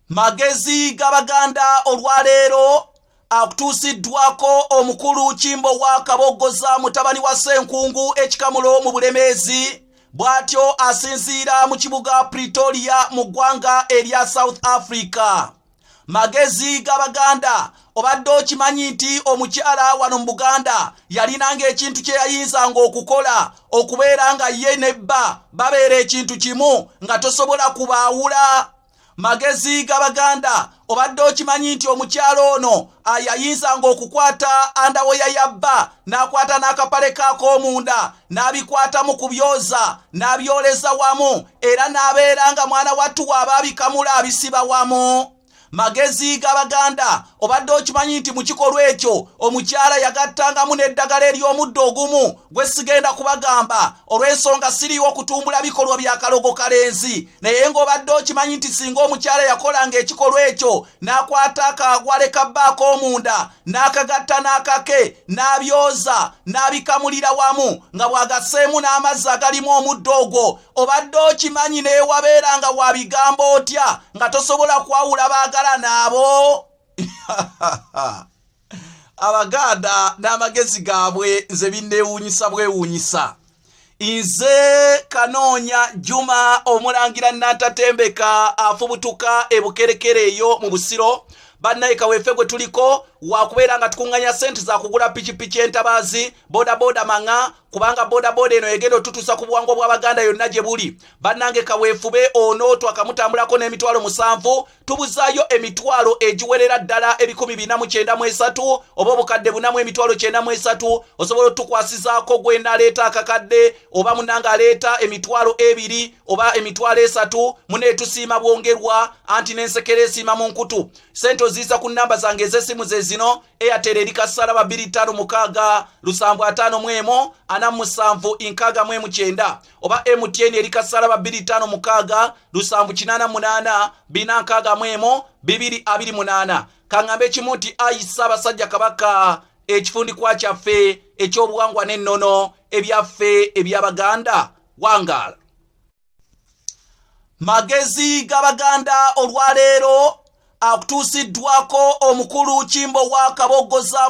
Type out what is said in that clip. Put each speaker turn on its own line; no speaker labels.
magezi g'abaganda olwaleero akutuusiddwako omukulu kimbo wa kaboggoza mutabani wa ssenkungu ekikamulo mu bulemeezi bw'atyo asinziira mu kibuga pretoria mu ggwanga erya south africa magezi g'abaganda obadde okimanyi nti omukyala wano mu buganda yalinanga ekintu kye yayinzanga okukola okubeera nga ye ne bba babeera ekintu kimu nga tosobola kubaawula magezi g'abaganda obadde okimanyi nti omukyala ono yayinzanga okukwata andawoya ya bba n'akwata n'akapale kaak'omunda n'abikwatamu ku byoza n'abyoleza wamu era n'abeera nga mwana wattu waaba abikamula abisiba wamu magezi g'abaganda obadde okimanyi nti mu kikolwa ekyo omukyala yagattangamu n'eddagala ery'omuddo ogumu gwe sigenda kubagamba olw'ensonga siriiwo okutumbula bikolwa bya kalogo kalenzi naye ng'obadde okimanyi nti singa omukyala yakolanga ekikolwa ekyo n'akwata akaagwale ka bba ak'omunda n'akagatta n'akake n'abyoza n'abikamulira wamu nga bw'agaseemu n'amazzi agalimu omuddo ogwo obadde okimanyi neewabeera nga wa bigambo otya nga tosobola kwawula baagala naabo abaganda n'amagezi gaabwe nze binneewuunyisa bwewuunyisa nze kanoonya juma omulangira nantatembeka afubutuka ebukerekere eyo mu busiro bannaye kaweefe gwe tuliko wakubeera nga tukunganya sente zakugula pikipiki entabaazi bodaboda maŋa kubanga bodaboda eno egenda otutuusa ku buwangwa bw'abaganda yonna gye buli bannange kaweefube ono twakamutambulako n'emitwalo musanvu tubuzaayo emitwalo egiwerera ddala ebikumi bina mu kyenda mu esatu oba obukadde buna mu emitwalo kyenda mu esatu osobola otukwasizaako gwe naleeta akakadde oba munanga aleeta emitwalo ebiri oba emitwalo esatu muneetusiima bwongerwa anti n'ensekera esiima mu nkutu sente oziyiza ku nnamba zange ez'essimu ze zino eyatera eri kassala babiri ttaano mukaaga lusanvu ataano mu emu ana mu musanvu nkaaga mu emu kyenda oba mtn eri kasalaba 256 lusanvu 88 binankaaga mu emu 228 kaŋŋambe ekimu nti ayi ssaabasajja kabaka ekifundikwa kyaffe ekyobuwangwa n'ennono ebyaffe ebyabaganda wangaala magezi g'abaganda olwaleero akutuusiddwako omukulu kimbowa kabogoza